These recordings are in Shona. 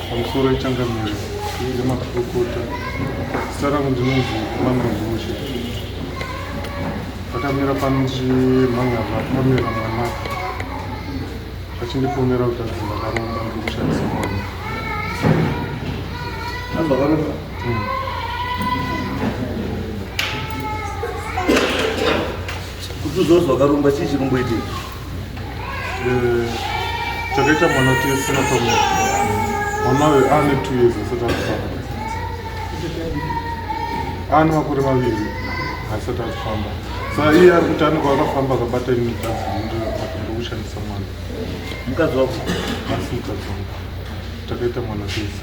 pamusoro yechangamire yemakurukota zita rangu ndinonzi manozoshe akamira pano ndimhan'arwa akamira mwana achindiponera kuti adzi ndakaromba ndikushandisa mwana kutuzo zvakarumba chii chikumboiti eh, chakaita mwana kuti asina pamwe mwana uyo aane two years asati akufamba aane makore maviri asati akufamba sa iye ari kuti anenge akafamba akabata imwe tanzi ndokushandisa mwana mukadzi wako asi mukadzi wangu takaita mwana tese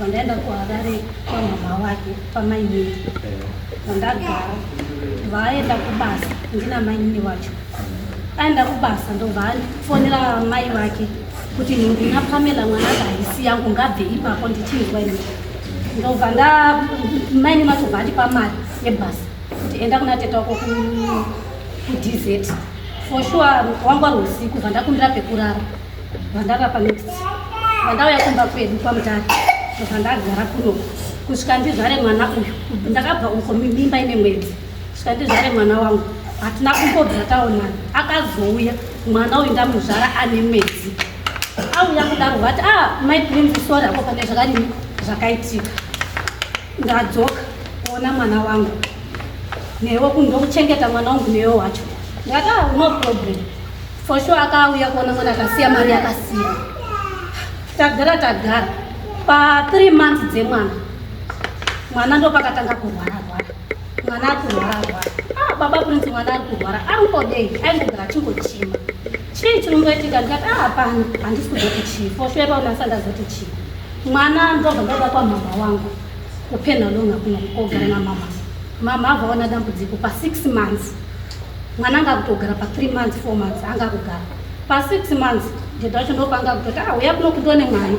vandaenda kuharare kwamama wake kwamainini vandagara vaenda kubasa ndina mainini wacho aenda kubasa ndovandifonera mai vake kuti ndina pamela mwana kahisi yangu ngabve ipapo ndichinzwa ini ndobva nda maini macho vandipa mari yebhasi kuti enda kuna teta wako kudz for sure wangwari usiku bva ndakumbira pekurara Vandava pa next. Vandauya kumba kwedu kwa mutare. Vandagara kuno. Kusvika ndizvare mwana uyu. Ndakabva uko mimba ine mwedzi. Kusvika ndizvare mwana wangu. Hatina kumbobva taonana. Akazouya mwana uyu ndamuzvara ane mwedzi. Auya kudaro vati ah my prince sorry apo pane zvakadini zvakaitika. Ndadzoka kuona mwana wangu newe kundokuchengeta mwana wangu newe wacho ndati ah, no problem for sure akauya kuona mwana akasiya mari yakasiya tagara tagara pa three months dzemwana mwana ndopakatanga kurwara rwara mwana akurwara rwara ah, baba prince mwana ari kurwara angodei aingogara achingochima chii chiri kungoitika ndikati ah, hapana handisi kuzotichii for sure paunasandazoti chii Mwana ndobva ndada kwamhamha wangu kupenha longa kuno kogara namama. Mama avaona dambudziko pasix months mwana anga kutogara pathree months four months anga kugara pasix months ndeda wacho ndopa anga kutoti a ah, uya kuno kundone mwana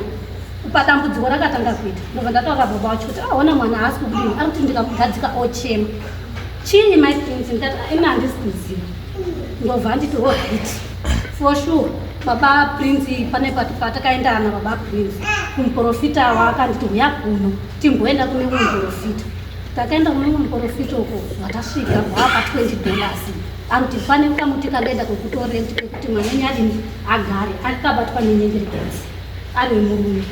kupa dambudziko rakatanga kuita ndobva ndataura baba wacho kuti aona ah, mwana haasi kudini ari kuti ndikamugadzika ochema chii my prince ndati ah, ina handisi kuziva ndobva anditi hohiti oh, For sure baba Prince pane patakaenda na baba Prince kumuporofita waakanditi huya kuno timboenda kune mumwe muporofita takaenda kune mumwe muporofita uko zvatasvika hwapa 20 dollars anoti pane kamuti kadaida kwekutorenti kwekuti mwanenyi adini agare akabatwa nenyengerekasi ari murume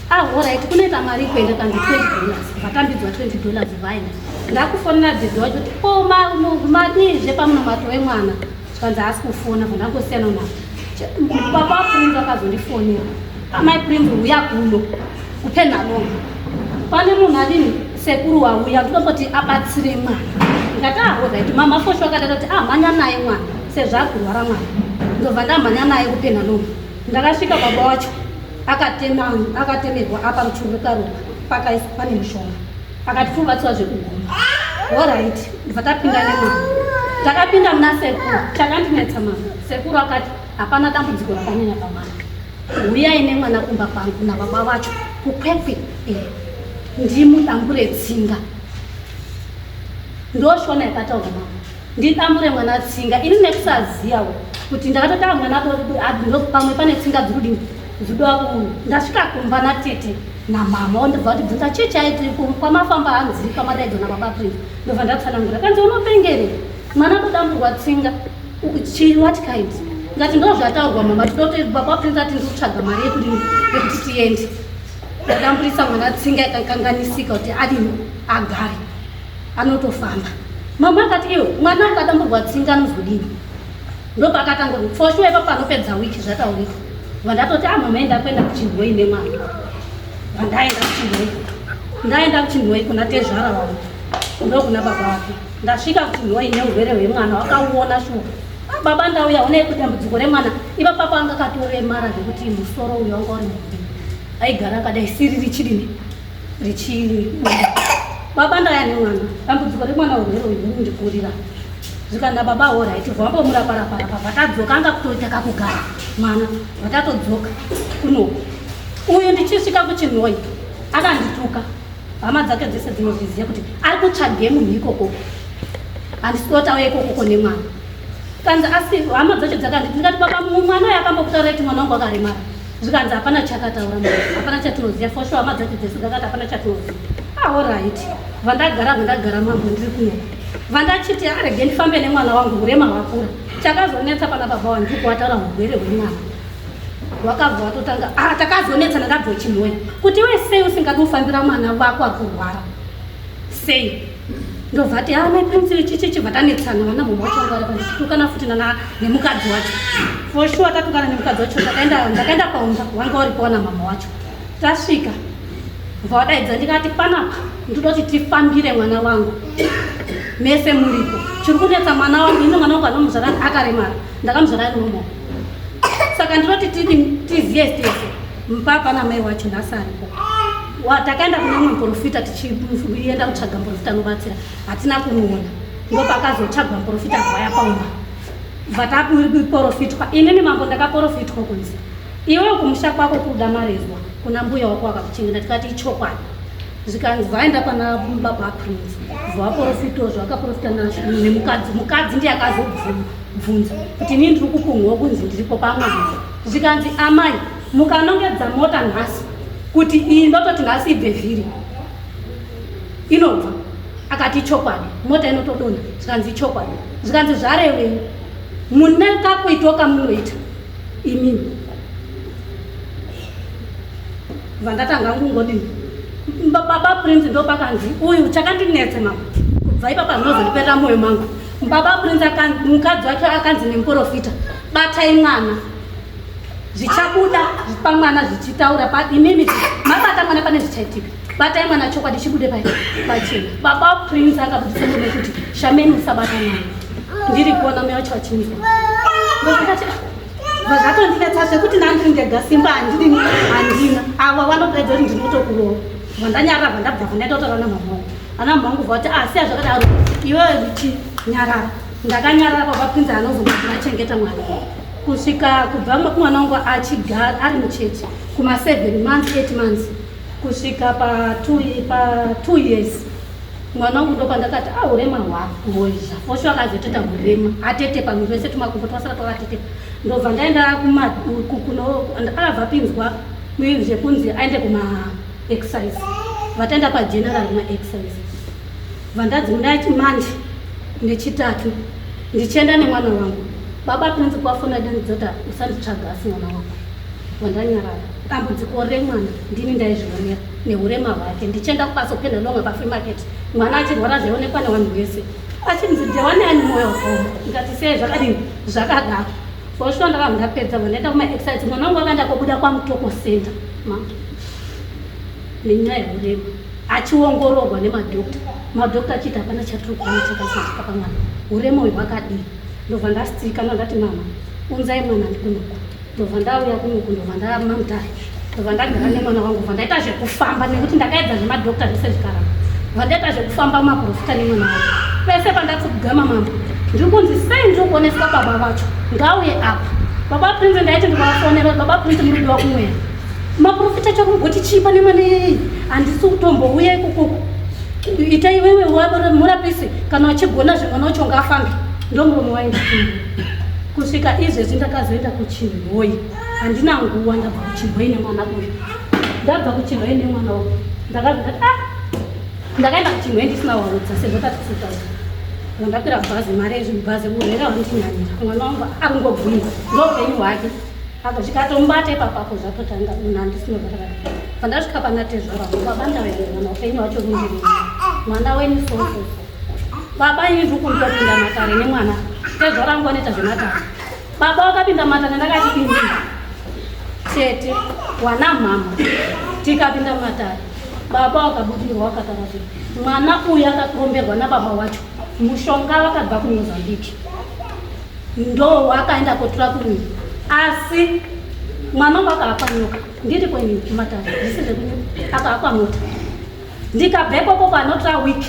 ahoraiti ah, kunoita mari kuenda kanzi 20 dollars vatambidzwa 20 dollars vaina ndakufonera dzidzi wacho kuti ko madii zvepamunomato wemwana Kwanzi haasi kufona zvandangosiyana na papa prince akazondifonera amai prince huya kuno kupenhalong pane munhu adini sekuru wauya ndinomboti abatsire mwana ndikati ahozaiti ah, mama fosho akatata kuti amhanya ah, naye mwana sezvo akurwara mwana ndobva ndamhanya naye kupenhalong ndakasvika baba wacho akatemerwa apa ruchuru rekaroa pakaisa pane mushonga Akati fubatswa zvekuguma. Alright, ndibva tapinda nemama. Takapinda muna sekuru, takandinetsa mama. Sekuru akati hapana dambudziko rakanyanya pamwana. Huyai nemwana kumba kwangu nababa vacho kukwekwe eh, ndimudambure tsinga. Ndoshona yakataura mama. Ndidambure mwana tsinga. Ini nekusaziva kuti ndakatotanga mwana adinopamwe pane tsinga dzirudini. Zudo aku ndasvika kumba na tete na mama ondibva kuti bvunza chii chaiti kwamafamba hanzi kwamadaidzo na baba Prince ndobva ndatsanangura kanzi unopengere mwana todamburwa tsinga chii what kind ndati ndo zvataurwa mama tinoda kuti baba Prince ati ndiri kutsvaga mari yekuti yekuti tiende ndadamburisa mwana tsinga ikakanganisika kuti adini agare anotofamba mama akati iyo mwana akadamburwa tsinga anozodini Ndopakatanga kuti for sure ipapo anopedza week zvataurika. Vandatoti ah mama enda kuenda kuchindoi nemwana. Vandaenda kuchindoi. Ndaenda kuchindoi kuna tezvara wangu. Ndokuna baba wake. Ndasvika kuchindoi neurwere hwemwana wakauona shuwa. Ah, baba ndauya onei kuti dambudziko remwana iva papo anga katoremara zvekuti musoro uyo wanga uri mukuru aigara akadai siri richidini baba ndaya nemwana dambudziko remwana urwere uyu unondikurira zvikanda baba horaiti vambomuraparaparapa vatadzoka anga kutoita kakugara mwana vatatodzoka kuno uyu ndichisvika kuchinhoi akandituka hama dzake dzese dzinozviziva kuti ari kutsvage munhu ikoko handisiotauya ikokoko nemwana kanzi asi hama dzacho dzakanditi ndikati baba mumwana uyo akambokutaura kuti mwana wangu akaremara zvikanzi hapana chakataura ma hapana chatinoziva for sure hama dzacho dzese dzakati hapana chatinoziva aorit ah, vandagara vandagara mambo ndiri kuno vandachiti arege ndifambe nemwana wangu hurema hwakura chakazonetsa pana baba wangu kuwataura hurwere hwemwana wakabva watotanga ah, takazonetsa ndakabvochinhoya kuti wesei usingadi kufambira mwana vako akurwara sei ndovati haa mai prince vechicheche vatanetsana vana mama wacho vanga varapa ndichitukana futi nana nemukadzi wacho for sure tatukana nemukadzi wacho ndakaenda ndakaenda paumba wanga waripo wana mama wacho tasvika bva wadaidza ndikati panapa ndoda kuti tifambire mwana wangu mese muripo chiri kunetsa mwana wangu ino mwana wangu anomuzvara akaremara ndakamuzvara ari nomo saka ndinoti tizive tese Mpapa na mai wacho nhasi aripo. Wa takaenda kune mumwe muprofita tichienda kutsvaga muprofita anobatsira. Hatina kumuona. Ndipo pakazotsvagwa muprofita vaya paumba. Vatakuporofitwa. Inini mambo ndakaporofitwa kunzi. Iwe kumusha kwako kuda marezwa. Kuna mbuya wako wakakuchengeta tikati ichokwadi. Zvikanzi vaenda pana baba Prince. Vaporofita zvo akaporofita nazvo nemukadzi. Mukadzi ndiye akazobvunza kuti inini ndiri kupunhwa kunzi ndiripo pamwe. zvikanzi amai mukanongedza mota nhasi kuti iyi ndototi nhasi ibve vhiri inobva akati ichokwadi mota inotodonha zvikanzi ichokwadi zvikanzi zvarevei mune kakuitwa kamunoita imimi vandatanga kungodini baba prince ndopakanzi uyu chakandinetse mama kubva ipapa ndinozondiperera moyo mangu baba prince mukadzi wacho akanzi nemuporofita batai mwana zvichabuda pamwana zvichitaura pa imimi mabata mwana pane zvichaitika batai mwana chokwadi chibude pa pachena baba prince akabudisa mune kuti shameni usabata mwana ndiri kuona mweya wacho wachinisa vazvatondinetsa zvekuti nandiri ndega simba handini handina ava vanopedza kuti ndinotokurowa vandanyarara vandabva vandaitotora namamao ana mhangu vati asi ah, azvakadaro iwe richinyaraa Ndakanyarara baba Prince anozogara achengeta mwana kusvika kubva mwana wangu achigara ari muchechi kuma 7 months 8 months kusvika pa 2 pa 2 years mwana wangu ndo pandakati ah urema hwako hozha osho akazoteta urema atete pamwe zvese tumakumbo twasara twakatete ndobva ndaenda kuma kuno akabva pinzwa zvekunzi aende kuma exercise vataenda pa general ma exercise Vandazi munaiti manje nechitatu ndichienda nemwana wangu baba prinzi kwafona danidzota usanditsvaga asi mwana wangu wandanyarara dambudziko remwana ndini ndaizvionera neurema hwake ndichienda kubaso pena longa pafree market mwana achirwara zvaionekwa nevanhu vese achinzi ndewaneani moyo wakaoma ndikati sei zvakadini zvakadaro foshuwa ndakava ndapedza vandaenda kumaexercise mwana wangu akaenda kobuda kwamutoko center mama nenyaya yehurema achiongororwa nemadokta madokta achiti hapana chatiri kuona chakasaitika pamwana hurema uyu hwakadii ndobva ndasitirikana ndati mama unzai mwana ndikunoku ndobva ndauya kunoku ndobva ndamamdai ndobva ndagara nemwana wangu bva ndaita zvekufamba nekuti ndakaedza zvemadokta zvese zvikaramba bva ndaita zvekufamba maprofita nemwana wangu pese pandatsi kugama mambo ndiri kunzi sei ndiri kuoneswa baba vacho ngauye apa baba prince ndaiti ndikavafonera baba prince muridiwa kumweya maprofita chakungoti chii pane mwana yeyi handisi kutombouya ikokoko ita iwewe murapisi kana wachigona zve mwana wacho ngaafambe ndomuromo wainda kusvika izvezvi ndakazoenda kuchirwoi handina nguva ndabva kuchirwoi nemwana uyu ndabva kuchirwoi nemwana uyu ndakazaa ah! ndakaenda kuchirwoi ndisina warudza sezvo tatisitaura ndakwira bhazi mari yezvibhazi urwere hwandinyanyira mwana wangu akungobvunza ndoupenyu hwake Apa zvikatomubata ipapapo zvatotanga munhu andisina kurara. Pandasvika pana tezvara baba ndawere mwana upenyu hwacho rundiri. Mwana wenyu so so so. Baba ini ndiri kutopinda matare nemwana. Tezvara ngo neta zvematare. Baba wakapinda matare ndakati pindi. Tete wana mama. Tikapinda matare. Baba wakabudirwa wakatara kuti mwana uyu akakomberwa na baba wacho. Mushonga wakabva ku Mozambique. ndo akaenda kotura kunyi asi mwana wangu akaakwa nyoka ndiri kwenyi kumatare zvisi zvekunyi akaakwa mota ndikabvepo koko anotora week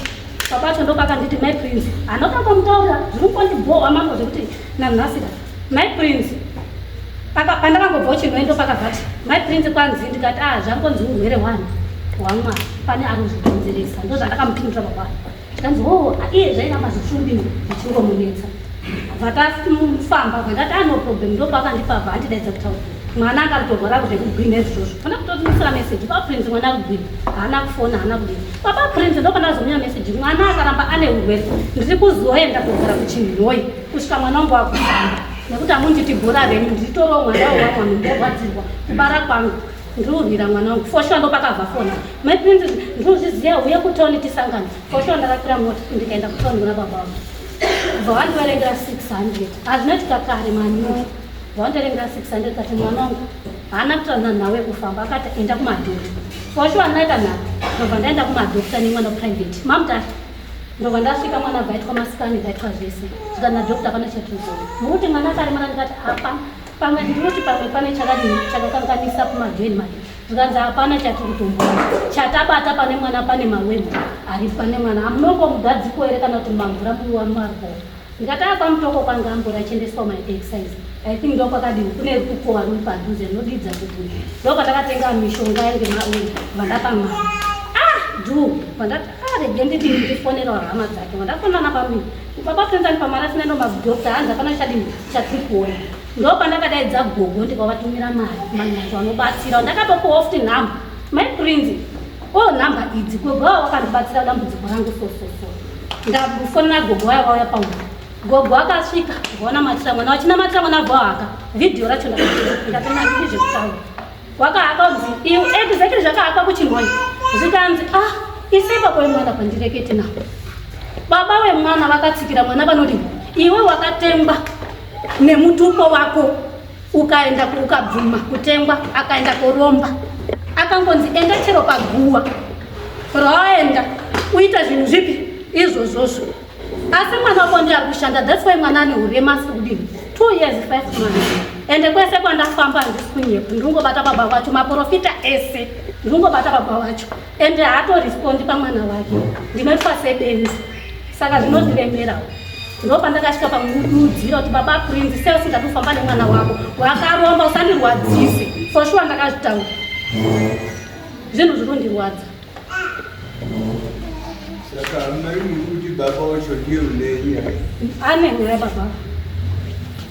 papacho ndopakanditi my prince anoda kumutaura zviri kundibhowa mambo zvekuti nanhasira my prince pandakangobva uchirwei ndopakavati my prince kwanzi ndikati a ah, zvangonzi urwere one hwamwana pane ari kuzvikonzeresa ndozvandakamupindura pakwaa zvikanzi hoo iye zvaiva mazvifumbi zvichingomubetsa vakafamba vakati ano problem ndopakandipa bhandidaidza kutaura mwana anga kutorwara kuti kugwina izvozvo fana kutotimisira meseji paprince mwana kugwina haana kufona haana kudini baba prince ndopana azomunya meseji mwana akaramba ane urwere ndiri kuzoenda kugara kuchinhoi kusvika mwana wangu wakufamba nekuti amunditi bhora renyu ndiritoroo mwana wewamwanu ndorwadzirwa kubara kwangu ndirurwira mwana wangu foshuwa ndopakabva fona Mai Princess, ndinozviziva huya kutown tisangana. For sure ndakapira mota ndikaenda kutown kuna baba vangu. Kubva wandiverengera 600. Hazvina chikakare manyuka. Wandiverengera 600 kati mwana wangu haana kutana nawe kufamba akati enda kumadhota. For sure ndaita nhaka. Ndobva ndaenda kumadhota nemwana private. Mamta ndobva ndasvika mwana vaitwa masikani vaitwa zvese. Zvika na doctor pana chatuzo. Mukuti mwana akaremara ndikati apa pamwe ndinoti pamwe pane chakadini chakakanganisa kumadhweni madhota. zvikanzi hapana chatiri kutomboona chatabata pane mwana pane mawembo ari pane mwana amunongo mugadziko here kana kuti mamvura muwamarbo ndikataya kwamutoko kwange ambori achiendeswa maexercise i think ndo kwakadini kune rukukowa ruri padhuze rinodidza kuti ndo kwatakatenga mishonga yange vandapama ah du vandaregedidini ah, ndifonera hama dzake vandafonana pamii baba kuenzani pamwana sinendo madokta hanzi hapana chadini chatiri kuona ndopandakadaidza gogo ndikavatumira mari manyato anobatsira ndakatopiwa futi nhamba my prince o oh, nhamba idzi gogo avo vakandibatsira dambudziko rangu sososo ndafonera gogo vaya vauya paua gogo akasvika vaona matira mwana vachina matira mwana vahaka vhidhiyo racho ndakatonaii zvekutaura wakahaka kunzi iu exactly zvakahaka kuchinhoi zvikanzi ah isaipa kwemwana kwandirekete navo baba wemwana vakatsikira mwana vanodii iwe wakatemba nemutupo wako ukaenda ukabvuma kutengwa akaenda koromba akangonzi enda chero paguwa raenda uita zvinhu zvipi izvozvozvo asi mwana wako ndi ari kushanda thats why mwana ane urema asi kudini two years five months ende kwese kwandafamba handisi kunyepa ndingobata baba vacho maprofita ese ndingobata baba vacho ende haatorespondi pamwana wake ndinoitwa sebenzi saka zvinondiremerawo ndo pandakasvika pamududzira kuti baba prinzi sei usingadi kufamba nemwana wako wakaromba usandirwadzise for sure ndakazvitaura zvinhu zviri kundirwadza ane nyaya baba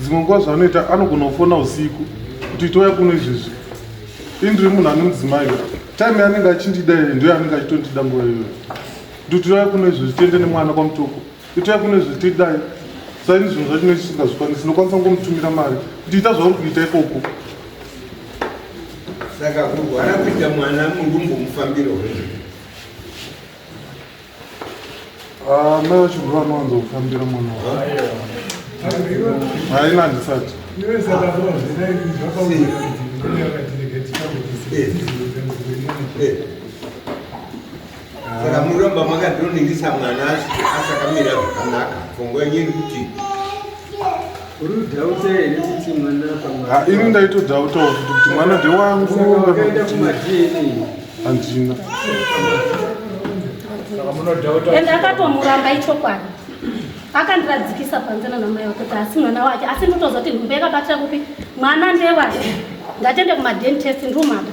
dzimwe nguva zvaanoita anogona kufona usiku kuti toya kuno izvezvi ini ndiri munhu anonzimai time yaanenge achindida iyo ndoyo anenge achitondida nguva iyoyo ndotouya kuno izvezvi tiende nemwana kwamutoko itai kune zviti dai saini zvinhu zvacho nesi singazvikwanisi ndokwanisa kungomutumira mari kuti ita zvauri kuita ikoko saka kurwara kuita mwana mundumbu mufambiro hwei ah, mai vacho ndo vanowanza kufambira mwana wa haina handisati Yeah. saka muromba makadoningisa mwana asakamira zvakanaka pfungwa yenyu iri kuti ah, ini ndaitodhautawo kuti kuti mwana ndewangu handina ende akatomuramba ichokwadi akandiradzikisa panze nanamai wake kuti asi mwana wake asi ndotozoti nhumba yakabatira kupi mwana ndewake ndatende kumadentest ndrumata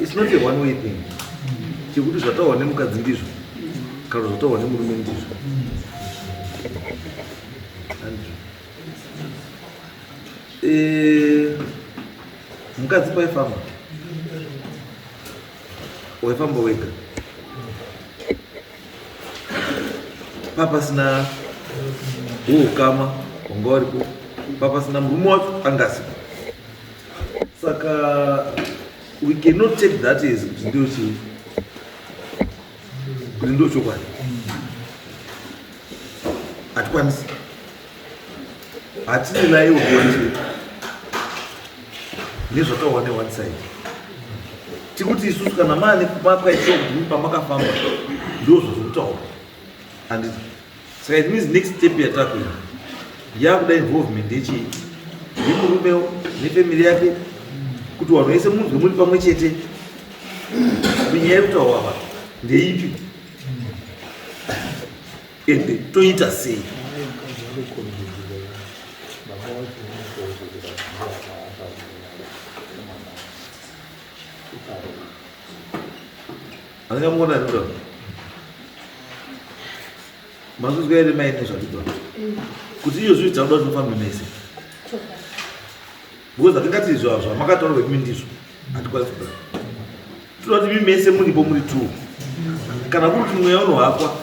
It's not a one way thing. Chekuti zvataurwa nemukadzi ndizvo kana zvataurwa nemurume ndizvo. Eh, mukadzi paifamba waifamba wega papasina huukama wanga waripo papasina murume wacho angasipo saka we cannot take that as kuti ndio chii kuti ndio chokwadi hatikwanisi hatine naye ugonje nezvataona ne one side tikuti isusu kana mane mapwa icho kuti pamakafamba ndozvazokutaura handiti Saka it means next step yatakuenda yakuda involvement yechii nemurume nefamily yake kuti wanhu wese munhu zvemuri pamwe chete kunyaya yekutaura apa ndeipi ende toita sei Angamona ndo. Mazuzwa ere mai nezvakuitwa. Mm. Kuti iyo zviri tauda kuti mufambe mese. Because atingati izvo zva makataura kuti mindizvo. Atikwazi kuda. Tinoda kuti mimi mese muri bo muri two. Kana kuri kuti mweya unohakwa.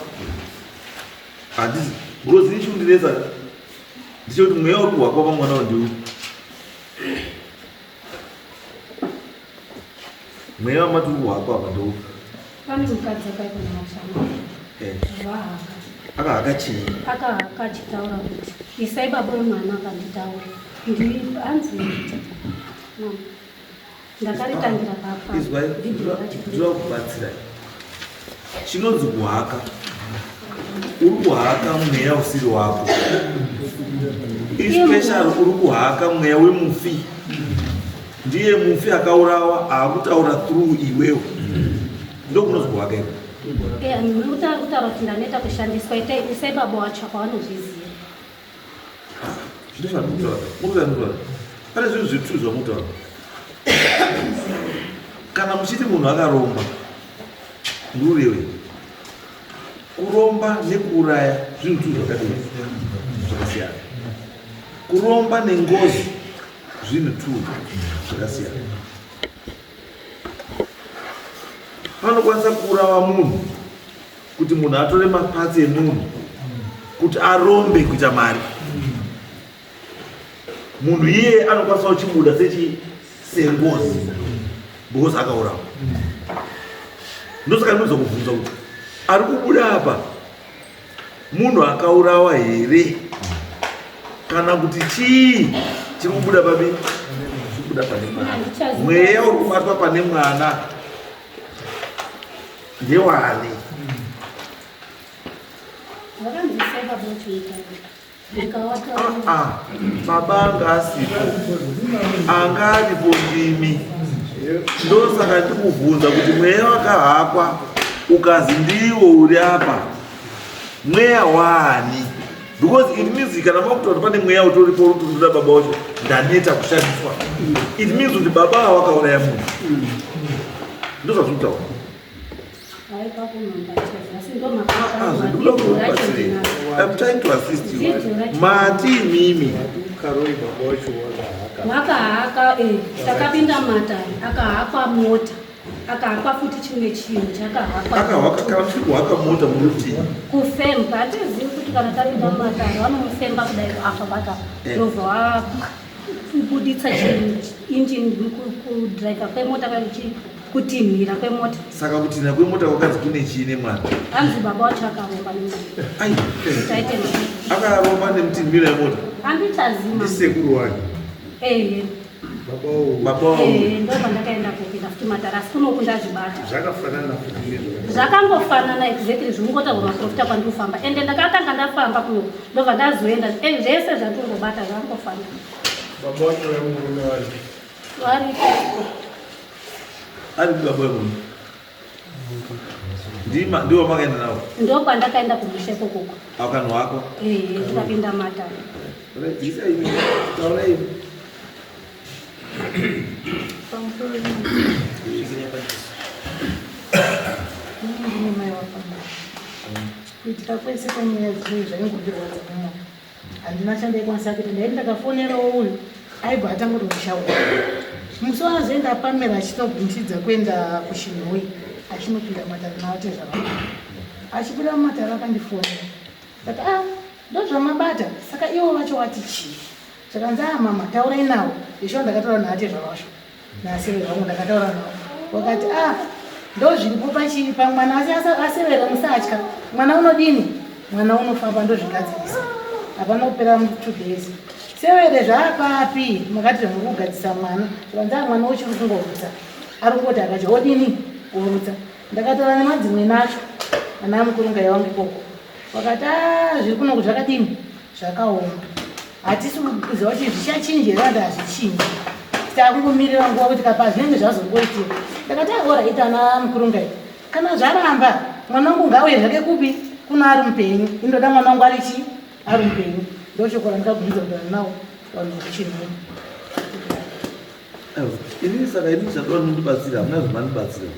Handizi. Because ichi ndinetsa. Ndicho kuti mweya uri kuhakwa pamwana wandiwo. mweya wamati uri kuhako apa ndo pane mukadzi akaita mashama eh. vahaka akahaka chii akahaka achitaura kuti isai baba wemwana akanditaura ndi hanzi ndakaritangira papa ndinoda kubatsira Chinonzi kuhaka. Uri kuhaka mweya usiri wako. Especially uri kuhaka mweya wemufi. Ndiye mufi akaurawa aakutaura through iwewe. Ndokunonzi kuhaka iko. Eh, Mutaura kuti ndaneta kushandiswa itai isai baba wacho kwavanozviziva. pane zvinhu zvitu zvamutaura kana muchiti munhu akaromba ndiurewe kuromba nekuuraya zvinhu tu zvakadii zvakasiyana kuromba nengozi zvinhu tu zvakasiyana vanokwanisa kuurawa munhu kuti munhu atore mapatsi emunhu kuti arombe kuita mari munhu iye anokwanisa kuchibuda sechi sengozi because akaurawa ndosaka ndinoza kubvunza kuti ari kubuda apa munhu akaurawa here kana kuti chii chiri kubuda papi chikubuda pane mwana mweya uri kubatwa pane mwana ndewani ah, ah. baba anga asipo anga aripo ndimi ndosaka ndikubvunza kuti mweya wakahakwa ukazi ndiwo uri apa mweya waani because it means kana makuta kuti pane mweya utoripo uri kutoda baba wacho ndaneta kushandiswa it means kuti baba ava vakauraya munhu ndozvazviri kutaura I'm trying to assist you. Mati mimi. Karoi baba wacho wakahaka. Wakahaka eh. Takapinda matari akahakwa mota. akahakwa futi chimwe chinhu chakahakahaka mota muti kufemba hatizivi kuti kana tapinda mumatare vanomufemba kudai apa baka eh. ndobva wakubuditsa chiinjini kudriver kwemota kakuchi kutinhira kwemota saka kutinhira kwemota kwakanzi kune chiine mwana hanzi baba wacho akaromba neakaromba nemutinhira yemota handitazima ndisekuru wake ehe zvakangofanana exactly zvikungotaurwa maprofita kwandinofamba ende ndakatanga ndafamba kuno ndobva ndazoenda eh, zvese zvatingobata zvakangofana variko ari baba Ndima ndiwo makaenda nawo. Ndoo kwandakaenda kumusha ikoko uko. Akanhu wako. Eh, ndikapinda mata. Rajisa ini. Taura ini. Pamusoro ini. Zvikinya pachisi. Ini ndine mai wako. Kuitika kwese kwenyaya dziri zvaingondirwadza kumwa. handina chandaikwanisa kuita ndaiti ndakafonerawo uyu aibva atanga kutomushaura musi wazoenda pamera achitobvunchidza kuenda kuchinhoi achinopinda mumatare navate zvava achipinda mumatare akandifonera but a ah, ndozvamabata saka ivo vacho wati chii zvakanzi a ah, mama taurai navo izvo ndakataura naate zvavasho Naasevero wangu ndakataura navo wakati ah ndozviripo pachii pamwana asi asevero musatya mwana unodini mwana unofamba ndozvigadzirisa hapana kupera two days severe zvaapapi makati muri kugadzisa mwana zvanzaa mwana uchiri kungorutsa ari kungoti akacha odini kurutsa ndakataura nemadzimwe nacho ana amukurunga yawangu ikoko wakati ah, zviri kunoku zvakadini zvakaoma hatisi kuziva kuti zvichachinja here ati hazvichinji takungomirira nguva kuti kapa zvinenge zvazongoitika ndakati agora ita ana mukurungai kana zvaramba mwana wangu ngauye zvake kupi kuno ari mupenyu indoda mwana wangu ari chii ari mupenyu ndochokora ndikagumidza kudana nawo vanhu vachinhuma Ini saka ini zvadoda mundibatsira hamuna zvamandibatsira.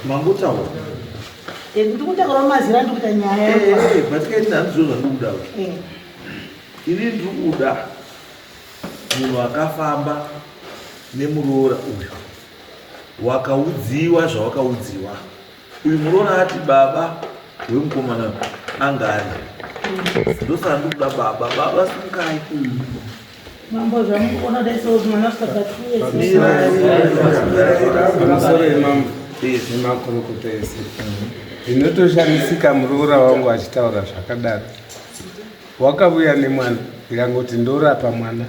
Mangotaura. Eh, kuti kutaura mazira ndi kuita nyaya. Eh, eh, eh but kai ndina ndizvo zvandikuda. Eh. Ini ndiri kuda munhu akafamba nemuroora uyu wakaudziwa zvawakaudziwa uyu muroora ati baba wemukomana angari ndosaka ndikuda baba baba simukai Mambo zvamukuona dai so mwana asvika pa two years. Pamusoro imambo nemakurukota ese ndinotoshamisika muroora wangu achitaura zvakadaro wakavuya nemwana ndikangoti ndorapa mwana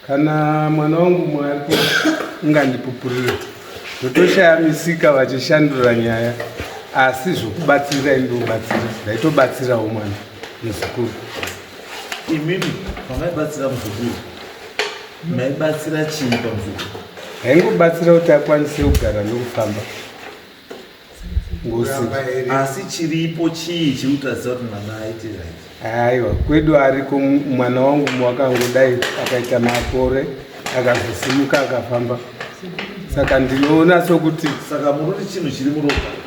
kana mwana wangu mwari ungandipupurira ndotoshamisika vachishandura nyaya asi zvokubatsira indobatsira ndaitobatsirawo mwana nezukuru imimi pamaibatsira muzukuru maibatsira chii pamuzukuru haingobatsira kuti akwanise kugara nokufamba asi chiripo chii chirikutaridza kuti mwana aite aiwa kwedu ariko mwana wangu wakangodai akaita makore akazosimuka akafamba saka ndinoona sokuti saka mururi chinhu chiri muropa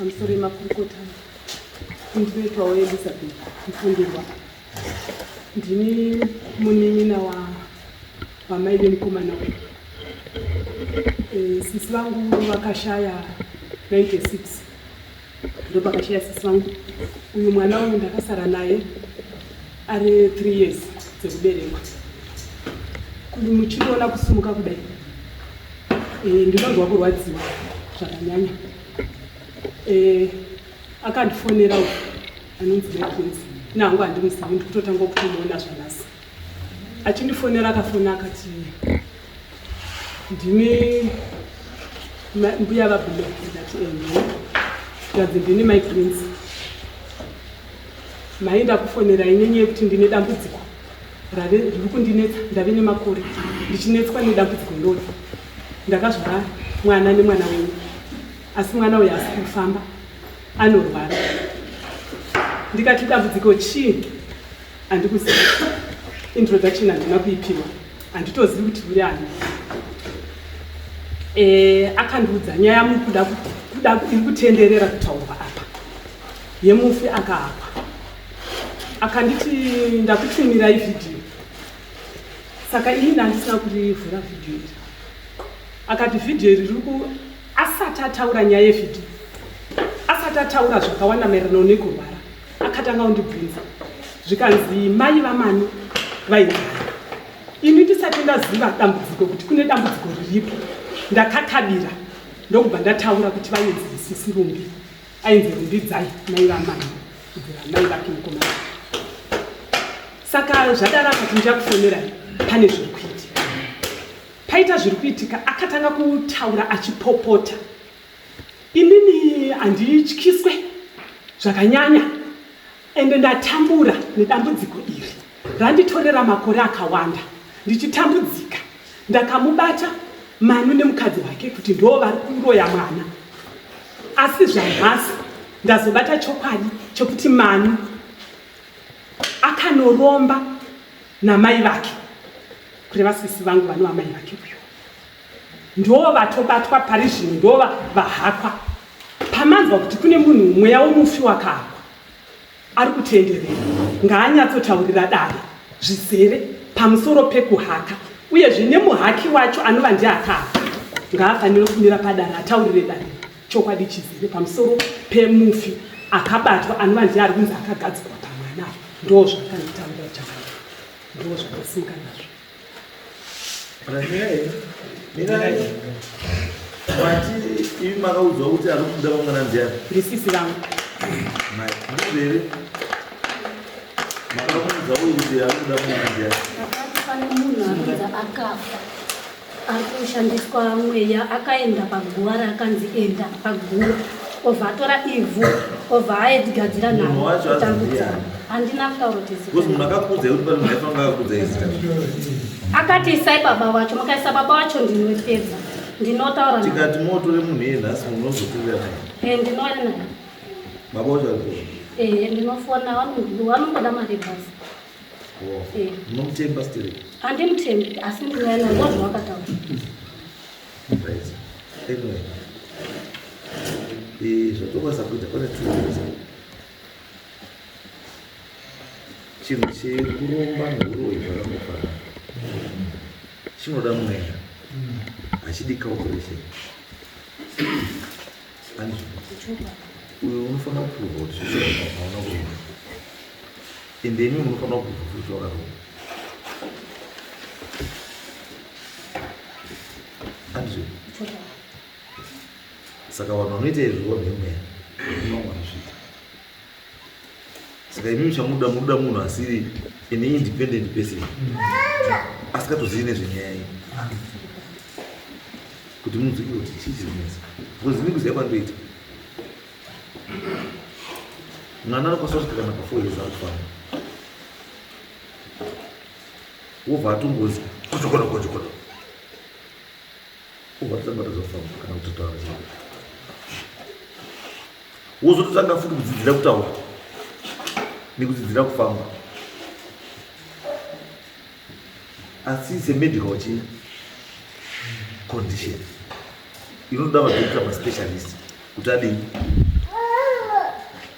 amusoro emakurukota ndinoitwawo elizabeth mfundirwa ndini munin'ina wamai vemukomana we eh, sisi vangu vakashaya 96 ndopakatiya sisi vangu uyu mwana uyu ndakasara naye ari three years dzekuberekwa kuti muchitoona kusimuka kudai e, ndinonzwa kurwadziwa zvakanyanya e, akandifonera uku anonzi bekwezi nangu handimuzivi ndikutotanga kutomuona zvanasi achindifonera akafona akati ndini mbuya vabulo ndati ehe ndikati ndini my prince maenda kufonera inyenye yekuti ndine dambudziko rave riri kundinetsa ndave nemakore ndichinetswa nedambudziko irori ndakazvara mwana nemwana wenyu asi mwana uyo asi kufamba anorwara ndikati dambudziko chii Handikuzivi. Introduction handina kuipiwa. Handitozivi kuti uri ani. Eh, akandiudza nyaya mukuda kuda iri kutenderera kutaurwa apa. Yemufi akahakwa. Akanditi ndakutumira ivideo. Saka ini ndandisina kurivhura video iri. Akati video iri riri ku asati ataura nyaya yevideo. Asati ataura zvakawanda maererano nekurwara. akatanga kundibvunza zvikanzi mai vamani vaigara ini ndisati ndaziva dambudziko kuti kune dambudziko riripo ndakakabira ndokubva ndataura kuti vainzi sisi rumbi ainzi rumbidzai mai vamani kubvira mai vake mukomana saka zvadaro akati ndichakufonera pane zviri kuitika paita zviri kuitika akatanga kutaura achipopota Inini handityiswe zvakanyanya ende ndatambura nedambudziko iri randitorera makore akawanda ndichitambudzika. Ndakamubata Manu nemukadzi wake kuti ndoo vari kuroya mwana asi zvanhasi ndazobata chokwadi chekuti Manu akanoromba namai vake kureva sisi vangu vanova mai vake uyo. ndovatobatwa pari zvino ndova vahakwa pamanzwa kuti kune munhu mweya womufi wakahakwa ari kutenderera ngaanyatsotaurira dare zvizere pamusoro pekuhaka uyezve nemuhaki wacho anova ndiakahaka ngaafanire kumira padare ataurire dare chokwadi chizere pamusoro pemufi akabatwa anova ndiye ari kunzi akagadzikwa pamwana ndozvakanitaura chaa ndozvakasimuka nazvo imi makaudzwa kuti ari kuda vamwana ndiani ndisisi vangu ndizere makamuudza uyu kuti ari kuda vamwana ndiani pane munhu anodza akafa ari kushandiswa mweya akaenda paguva raakanzi enda paguva obva atora ivhu obva aedigadzira naotambudzira handina kutaura akati isai baba wacho mukaisa baba wacho ndinopedza ndinotaura tikati motore munhu iye nhasi munozotirira eh, ndinoona naye baba wacho eh, ndinofona vanongoda mari basi oh. eh. munomutemba stere handimutembi asi ndinoona ngozvawakataura Anyway, eh, zvotokwanisa kuita pane tuza chinhu chekuromba neuroyi zvakangofana chinoda mweya hachidi calculation uyo unofanira kupihwa kuti zviaona kuona ende imi munofanira kupihwa kuti zvakaroa andizvo saka vanhu vanoita izvi vonhemweya saka imimi chamuda muda munhu asiri an independent person asikatozivi nezvenyaya iyi kuti munzwike kuti chii chiri kunetsa because ini kuziva kwandoita mwana anokwanisa kusvika kana pafour years akufana wobva atongozi kochokono kochokono Ubva tisabata zvafamba kana kutotaura zvinhu. Wozototanga futi kudzidzira kutaura nekudzidzira kufamba. Asi it's a medical chi condition. Inoda madokita maspecialist kuti adii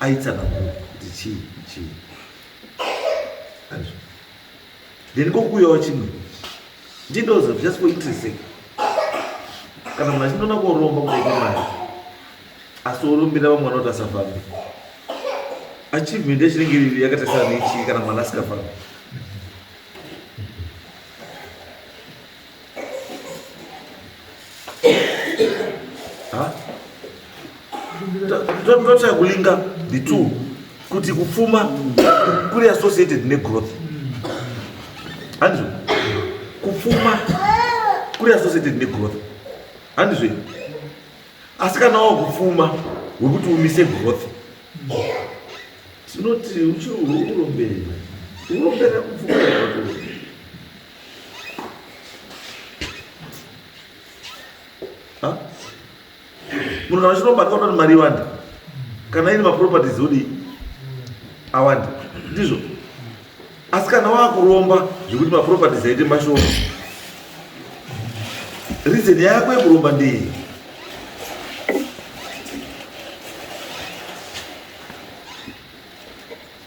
aitsanangura kuti chii chii. Andizvo. then kokuuyawo chimwe ndindozo just for interest sake kana munhu achindona koromba kudaika mari asi orombera vamwe vanoti asafambe achievement yachinenge iri yakatasana nechii kana mwana asikafambi totya kulinga the two kuti kupfuma kuri associated negrowth handizvo kupfuma kuri associated negrowth handizvo asi kana wava kupfuma wekuti umise growth tinoti uchiurombera urombera kupfuma munhu kana chinobatwa kuti mari iwande kana ine maproperties odi awande ndizvo asi kana wakuromba zvekuti maproperties aite mashoma reason yako yekuromba ndeye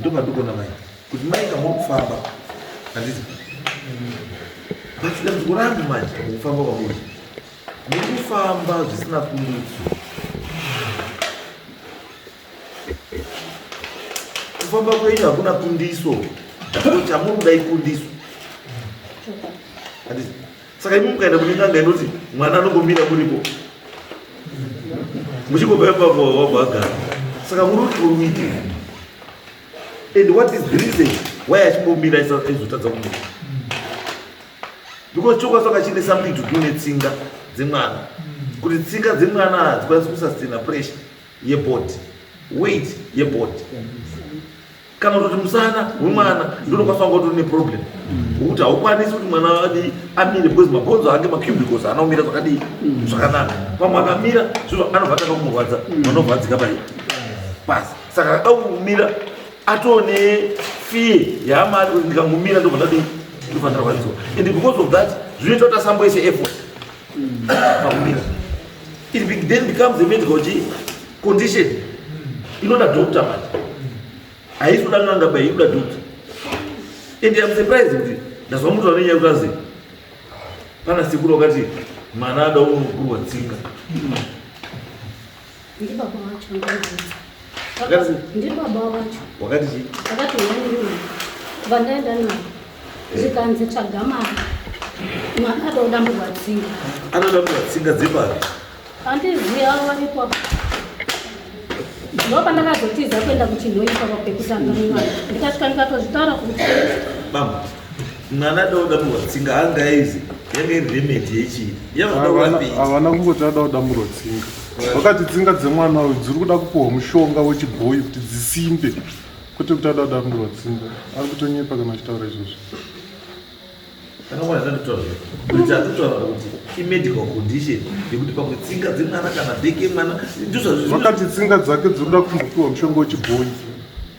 ndopandikuona mai kuti mai kamuri kufamba handizi but dambudziko rangu manje kufamba kwamuri muri kufamba zvisina kurudzo kufamba kwenyu hakuna kundiso chamuri kuda ikundiso handizi saka imi mukaenda kune n'anga inoti mwana anongomira muripo muchingobva ipapo wabva agara saka muri kuti uite and what is the reason why achimbomira aizotadza kumira because chokwadi saka chine something to do netsinga dzemwana kuti tsinga dzemwana hadzikwanisi kusastina pressure yebody weight yebody kana kuti musana wemwana ndonokwanisa kunge utori neproblem wokuti haukwanisi kuti mwana adii amire because mabhonzo ake macubicles haana kumira zvakadii zvakanaka pamwe akamira zvino anobva atanga kumurwadza anobva adzika pai pasi saka ada kumira atoo nefee yaama ari kuti ndikangomira ndobva ndadii ndofanira kwanisiwa and because of that zvinoita kuti asamboise effort It be, then becomes a medical condition. Inoda doctor manje. Haisi kuda n'anga bai inoda doctor. And I'm surprised kuti ndazwa mtu anenya kuti pana siku lokati mwana ada unokurwa tsinga. Ndibaba wacho ndakabvunza. Wakati ndibaba wacho. Wakati chii? Wakati wandiona. Vandaenda naye. Eh. Zvikanzi tsvaga mari. Mwana anoda murwatsinga. Anoda murwatsinga dzepari? Handizivi avo varipo. Ndopa ndakazotiza kuenda kuchinhoyi pava pekutanga mwana. Ndikasvika ndikatozvitaura kuti. Mama. mwana adamurwa tsinga angaizi yanga iri remedi yechii havana kungoti ada kudamurwa tsinga vakati tsinga dzemwana uyu dziri kuda kupiwa mushonga wechibhoyi kuti dzisimbe kwete kuti ada kudamurwa tsinga ari kutonyepa kana achitaura izvozvo vakati tsinga dzake dziri kuda kumbopiwa mushonga wechibhoyi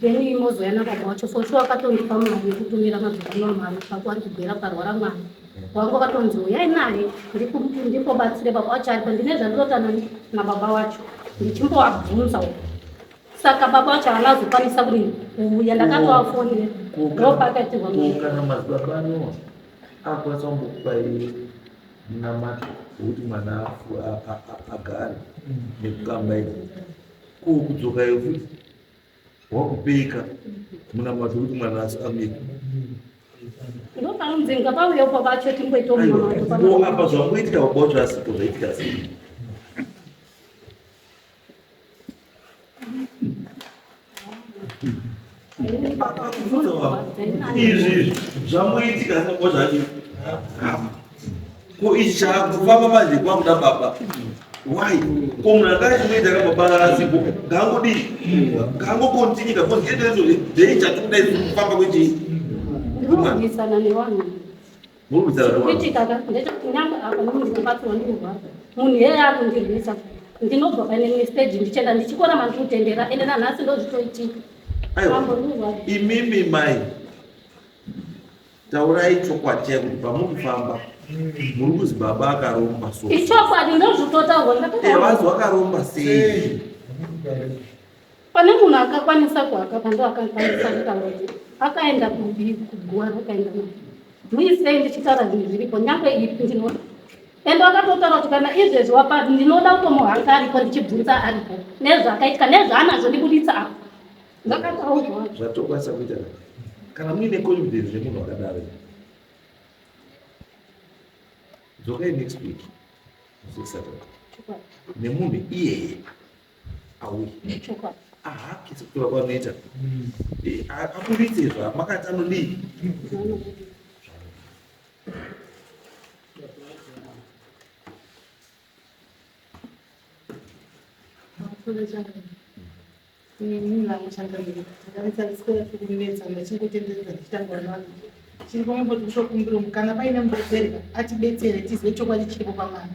then imozouya nababa wacho for sure akatondipa mari yekutumira madzikoma mari pako andibhera parwara mwana wangu akatonzi uyai naye ndikobatsire baba wacho aripa ndine zvandirotana nababa wacho ndichimbovabvunza uko saka baba wacho havana kuzokwanisa kuri kuuya ndakatovafonera ndopakatirwa kana madzibaba anowa akwanisa kumbokupai namata wekuti mwana agare mm. nekukamba izi ko kudzoka iyo futi wakupeka munamato kuti mwana asi amika ndopanonzenga pauya upa vacho tingoitoapa zvangoitika vabocho asipo zvaitika asi izvi zvamoitika zvinongo zvacho ko ichi chakufamba manje kwakuda baba why ko munhu akachimoita kababaarasipo kangodi kangokontinyi kakonzietezo dei chatikuda kufamba kwechii kuitika ndechekuti nyangwe apa nemunhu unobatsirwa ndinorwadza munhu iyeye akundirwisa ndinobva pane imwe stage ndichienda ndichikona mandikutendera ende nanhasi ndozvitoitika imimi mai taurai chokwadi chai kuti pamuri kufamba muri kuzi baba akaromba so ichokwadi ndozvitotaurwa evanzi wakaromba sei Pane munhu akakwanisa kuhaka pando akakwanisa kutaura akaenda kubi kuguwa rakaenda na muisei ndichitaura zvinhu zviripo nyangwe ipi ndinoda ende wakatotaura kuti kana izvezvi wapa ndinoda kutomuhanga ariko ndichibvunza ariko nezvaakaitika nezvaanazvo ndibuditsa apo ndakataurwa zvatokwanisa kuita kana muine confidence nemunhu wakadaro dzokai next week nemunhu iyeye auyi nechokwadi ahakisi kutora kwanoita hmm. eh, aburitse izvo makati anodii chiri pamwe poti kutokumbira mukana paine mubetseri atibetsere tizive chokwadi chiripo pamwana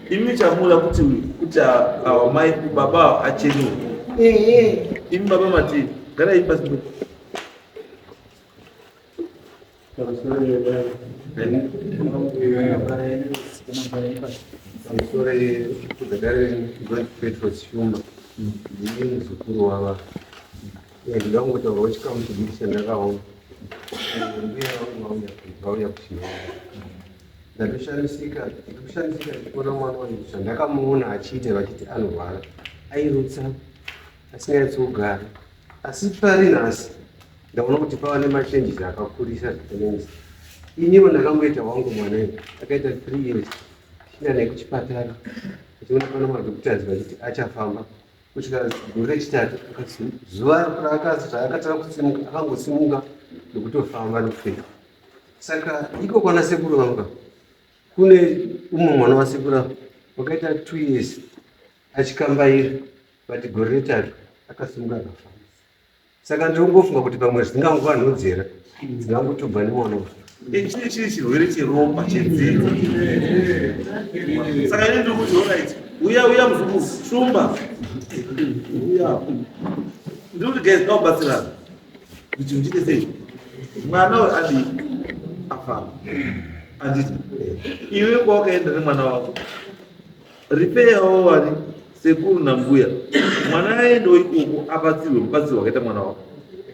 Imi chamuda kuti kuti awa mai baba awa achene. Ehe. Imi baba mati gara ipa sipo. Sorry, kudagare ngozi Petro Chuma. Ndiye muzukuru wava. Ndinoda kungotaura wechikamu chidiki chandakaona. Mbuya vangu vauya vauya kuchinoona. Ndatoshamisika, ndatoshamisika ndichiona mwana wangu zvandakamuona achiita vachiti anorwara. Airutsa asinganyatsi kugara. Asi pari nhasi ndaona kuti pava nemachanges akakurisa zvakanenzi. Iniwo ndakangoita wangu mwana uyu akaita three years tichienda naye kuchipatara tichiona pana madhokutas vachiti achafamba kusvika gore rechitatu zuva raakatanga kusimuka akangosimuka nekutofamba nekufefa Saka iko kwana sekuru vangu ka kune umwe mwana wasekuru ava wakaita two years achikambaira but gore retatu akasimuka akafa. Saka ndiri kungofunga kuti pamwe zvinganguva nhodzera dzingangotobva nemwana uyu. Ichi chiri chirwere cheropa chedzidzo. Saka ini ndiri kuti alright, uya uya muzukuru, shumba. Uya. Ndiri kuti guys, ngaubatsirana. mwana we adi afana anditi iwe kwawakaenda nemwana wako ripeyawo wari sekuru nambuya mwana aendewo ikoko abatsirwe mubatsiri wakaita mwana wako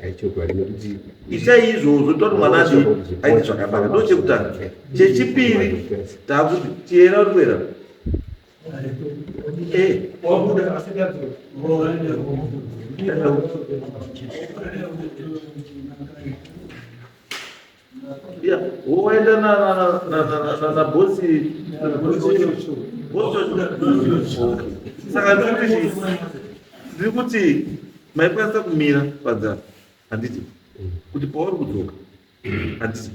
aichokwadi nekuti itai izvozvo toti mwana adi aite zvakanaka ndo chekutanga chechipiri takuti tiyera kuera woenda na bosi saka ndiri kuti maikwanisa kumira padzana handiti kuti pauri kudzoka handiti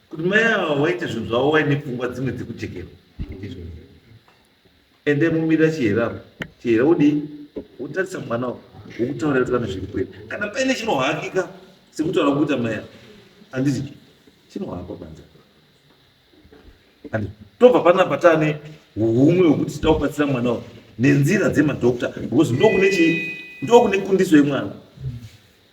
kuti mai ava waita zvinhu zvavo waine pfungwa dzimwe dzekujekera ndizvo ende mumirira chihera apa chihera wodii wotarisa mwana wo wokutaura kuti kana zviri kwete kana paine chinohakika sekutaura kuita mai ava handiti chinohakwa panza Handiti? tobva panapa taane humwe hwekuti tida kubatsira mwana wo nenzira dzemadokta because ndokune chii ndokune kundiso yemwana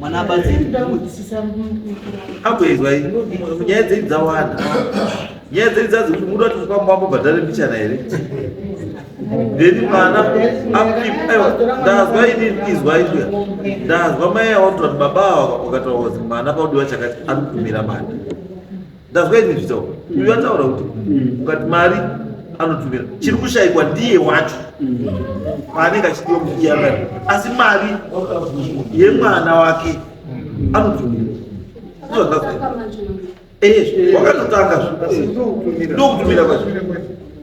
mwana abatsiraakuenzwa nyaya dzenyu dzawanda nyaya dzenyu dzazi kuti muda kuti mukwamba wambobhadhare mbichana here ndeni mwana ndazwa ini izwa izwa ndazwa mai aotoa kuti baba ava ukataura kuti mwana paudiwa chakati ari kutumira manda ndazwa ini ndichitaura uyu ataura kuti ukati mari anotumira chiri kushaikwa ndiye wacho paanenge achidiwa muiyangani asi mari yemwana wake anotumira ndozvandazwa ini. Eh, wakatotanga zve. ndokutumira kwacho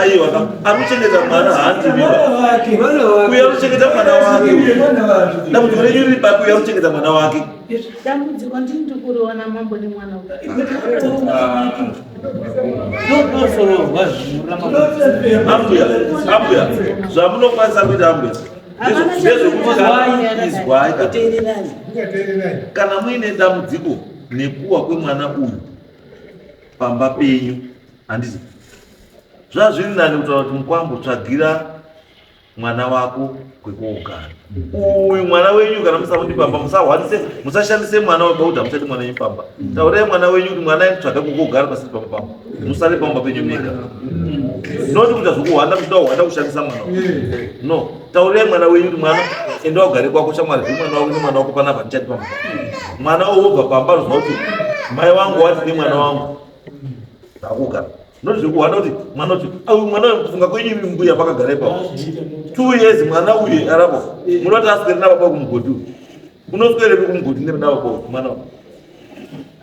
aiwa anochengeta mwana haandiuya anochengeta mwana wake dambudziko renyu riri papi uya anochengeta mwana wake dambudziko ndini ndikuriona mambo nemwana ambuya ambuya zvamunokwanisa kuita ambuya ndezvekuizwai kana muine dambudziko nekuwa kwemwana uyu pamba penyu handizi zvaa zviri nani kutaura kuti mukwambo tsvagira mwana wako kwekogara uyu mwana wenyu kana musamuti pamba musahwanise musashandise mwana weba kuti hamuchati mwana wenyu pamba taurai mwana wenyu kuti mwana tsvaga kwekogara pasiri pamba pamba musare pamba penyu mega noti kuita zvokuhwanda kuchida kuhwanda kushandisa mwana no Taurai mwana wenyu kuti mwana enda wagare kwako shamwari zve mwana wako nemwana wako panapa ndichati pamba. Mwana wobva pamba zvinova kuti mai wangu wati nemwana wangu ndakuga. Ndozvekuhwana kuti mwana kuti au mwana kufunga kwenyu imi mbuya pakagara ipapo. Two years mwana uyu arapo munoti aswere nababa kumugodi uyu. Unoswerepi kumugodi nebaba mwana wako.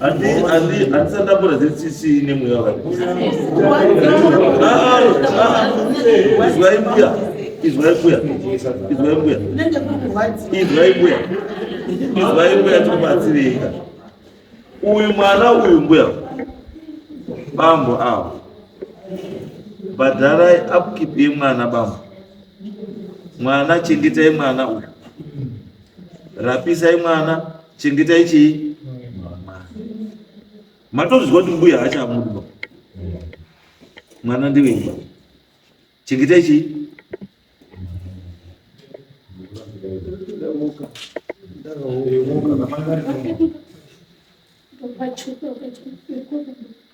handisandambura ziri tsitsi nemweya waizwai mbuya izwai mbuya izwai mbuya izwai mbuya izwai mbuya tikubatsirika uyu mwana uyu mbuya bambo avo bhadharai upkeep yemwana bambo mwana chengetai mwana uyu rapisai mwana chengetai chii matozviziva kuti mbuya haachamudiba mwana ndiveiba chengetai chii Thank you.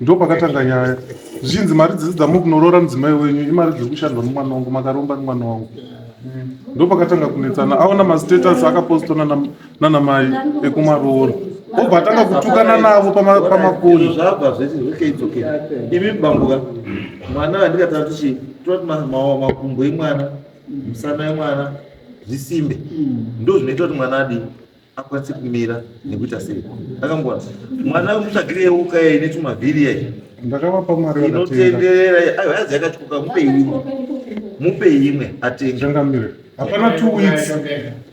Ndo pakatanga nyaya zvichinzi mari dzese dzamuri kunoroora mudzimai wenyu imari dziri kushandwa nemwana wangu makaromba nemwana wangu ndo pakatanga kunetsana aona mastatus akapostwa nana- nana mai ekumaroora obva atanga kutukana navo pama- pamakoni Izvo zvabva zvese okay it's okay imi bambuka mwana wandikatara tichi toti ma- ma- makumbo emwana musana emwana zvisimbe ndo zvinoita kuti mwana adii akwanise kumira nekuita sei akamboa mwana wemutsvagiri yeuka yai netumavhiri yai ndakavapa mari inotenderera ayo hazi yakatyoka mupe imwe mupe imwe atenge changamire hapana two weeks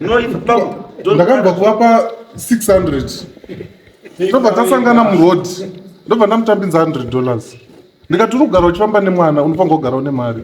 no ipapo ndakabva kuvapa 600 ndobva tasangana muroad ndobva ndamutambinza 100 dollars ndikati uri kugara uchifamba nemwana unofanira kugara une mari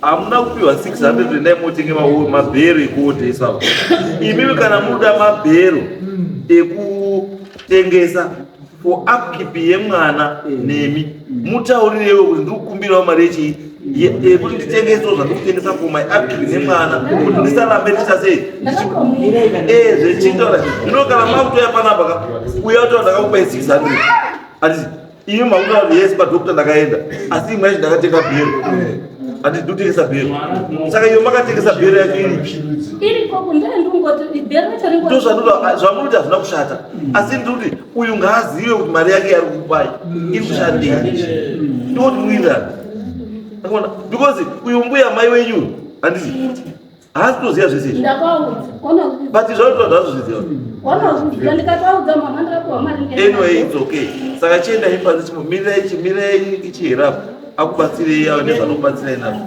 hamuna kupiwa 600 endai motenge mabhero ekuotesa imimi kana munoda mabhero ekutengesa for upkeep yemwana nemi mutaurirewo kuti ndiri kukumbirawo mari yechii yekuti nditengeso zvandikutengesa for my upkeep nemwana kuti ndisarambe ndichasei eh, zvechitaura zvino kana makutoya panapa ka uya utaura ndakakupai 600 atizi Iyo makuda vanhu yese padokta ndakaenda asi imwe yacho ndakatenga bhero hati ndotengesa bhero saka iyo makatengesa bhero yacho iri zvamurikuti hazvina kushata asi ndikuti uyu ngaazive kuti mari yake yari kupai iri kushandei ndoti muinani because uyu mbuya mai wenyu handiti haasi kutoziva zvese izvi but zvauta ndazozviziva anyway it's okay saka chienda ipanze chimo mirai chimirai ichiherapo akubatsirei ava nezvanokubatsirai nazvo